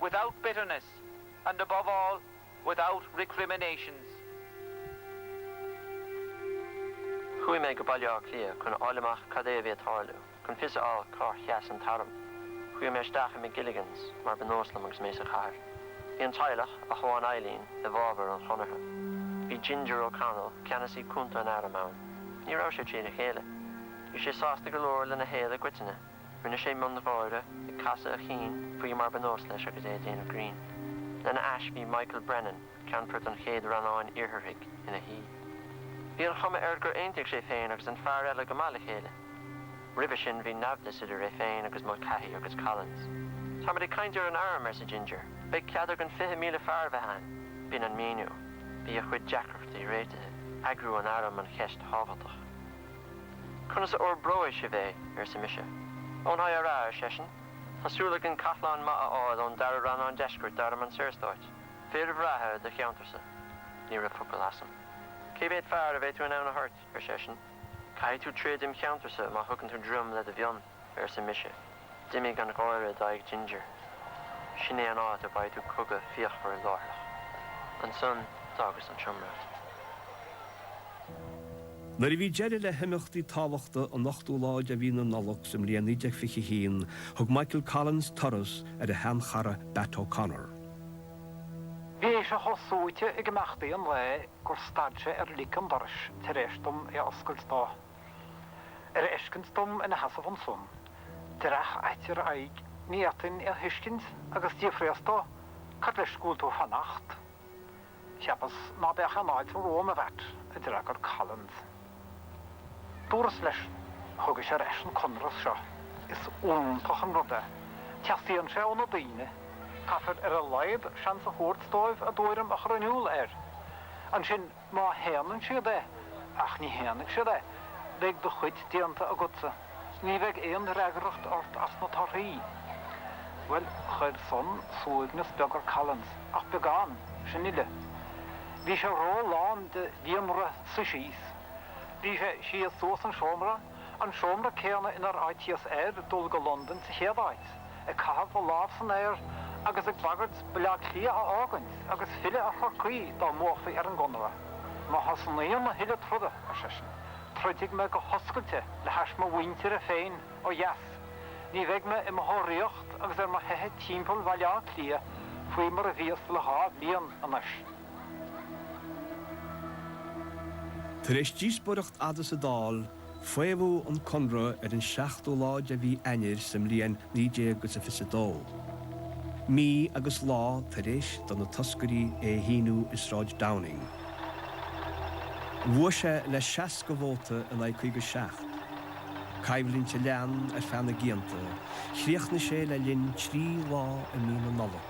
without bitterness and above all without recriminations. Chuaigh mé go Baile Átha Cliath chun a fháil amach cad a bhí ag tarlú, chun fios a fháil cár sheas an t-arm. Chuaigh mé isteach i McGilligans, mar ba nós liom agus mé sa chathair. Bhí an teaghlach, ach amháin Eileen, i bhfabhar an Chonartha. Bhí Ginger O'Connell, ceannasaí cúnta an airm, ann. Ní raibh sé trína chéile. Bhí sé sásta go leor lena shaol i gcoitinne. Rinne sé miongháire, ag casadh a chinn faoi mar ba nós leis agus é ag déanamh grinn. Lena ais bhí Michael Brennan, ceannfort an Chéad Rannáin Iartharaigh, ina shuí. Bhí an chuma air gur aontaigh sé féin agus an fear eile go maith le chéile. Roimhe sin bhí naimhdeas idir é féin agus Mulcahy agus Collins. Táimid ag caint ar an Arm, arsa Ginger. Beidh cead againn fiche míle fear a bheith ann. B'in an míniú. Bhí a chuid deacrachtaí réitithe. Eagrú an Airm an cheist thábhachtach. Conas a fhorbróidh sibh é? arsa mise. Ón IRA, ar seisean. Tá súil againn cathláin maith a fháil ón Dara Rannán Deiscirt d'Arm an Saorstáit. Fearaibh breátha do cheantarsa. Ní raibh focal asam. Cé mhéad fear a bheidh tú in ann a thoirt? ar seisean. Caithfidh tú troid im cheantarsa má thugann tú droim le do mhionn. arsa mise. D'imigh an gháire d'aghaidh Ginger. Sin é an áit a bhfaighidh tú cogadh fíochmhar láithreach. Ansan d'fhágas an seomra. Nuair a bhí deireadh le himeachtaí tábhachtacha an ochtú lá de mhí na Nollag sa mbliain 1921, thug Michael Collins turas ar a shean-chara Batt O'Connor. Bhí sé chomh suaite ag imeachtaí an lae gur stad sé ar lic an dorais tar éis dom é a oscailt dó. Ar fheiscint dom ina sheasamh ansan, dreach ait ar a aghaidh, ní fhéadfainn é a thuiscint agus d'fhiafraíos dó, Cad leis go bhfuil tú ag fanacht? Cheapas ná beadh aon fháilte romham, a Bhatt, a d'fhreagair Collins. Dúras leis, Thugais ar ais an conradh seo. Is iontach an rud é. Teastaíonn sé ó na daoine. Caithfear ar a laghad seans a thabhairt dóibh a dtuairim a chur in iúl air. Ansin, Má shéanann siad é, ach ní shéanfaidh siad é, beidh do chuid déanta agatsa. Ní bheidh aon fhreagracht ort as na torthaí. Bhuel, chuir san suaimhneas beag ar Collins, ach beagán, sin uile. Bhí sé ró-lán de líonrith suí síos. Bhí sé síos suas an seomra, an seomra céanna inar áitíos air dul go Londain sa chéad áit. ag caitheamh a lámh san aer agus ag bagairt Baile Átha Cliath a fhágaint agus filleadh ar Chorcaigh dá mbuafaí ar an gConradh. Má thosnaíonn a thuilleadh troda, ar seisean, troidfidh mé go hoscailte le hais mo mhuintire féin ó dheas. Ní bheidh mé i mo thóraíocht agus ar mo theitheadh timpeall Bhaile Átha Cliath faoi mar a bhíos le dhá bhliain anois. Tar éis díospóireacht fhada sa Dáil, Faomhadh an conradh ar an 7ú lá de mhí Eanáir sa mbliain 1922. Mí agus lá tar éis do na toscairí é a shíniú i Sráid Downing, bhuaigh sé le 60 vóta in aghaidh 57. Coimhlint a lean ar feadh na gcianta, chríochnaigh sé le linn trí lá i mí na Nollag,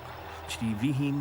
trí bhíthin.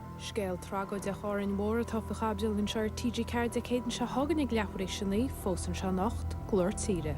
Scéal tragóideach Árainn Mhór atá faoi chaibidil anseo ar TG4 Dé Céadaoin seo chugainn ag leathuair tar éis a naoi, fós anseo anocht, Glór Tíre.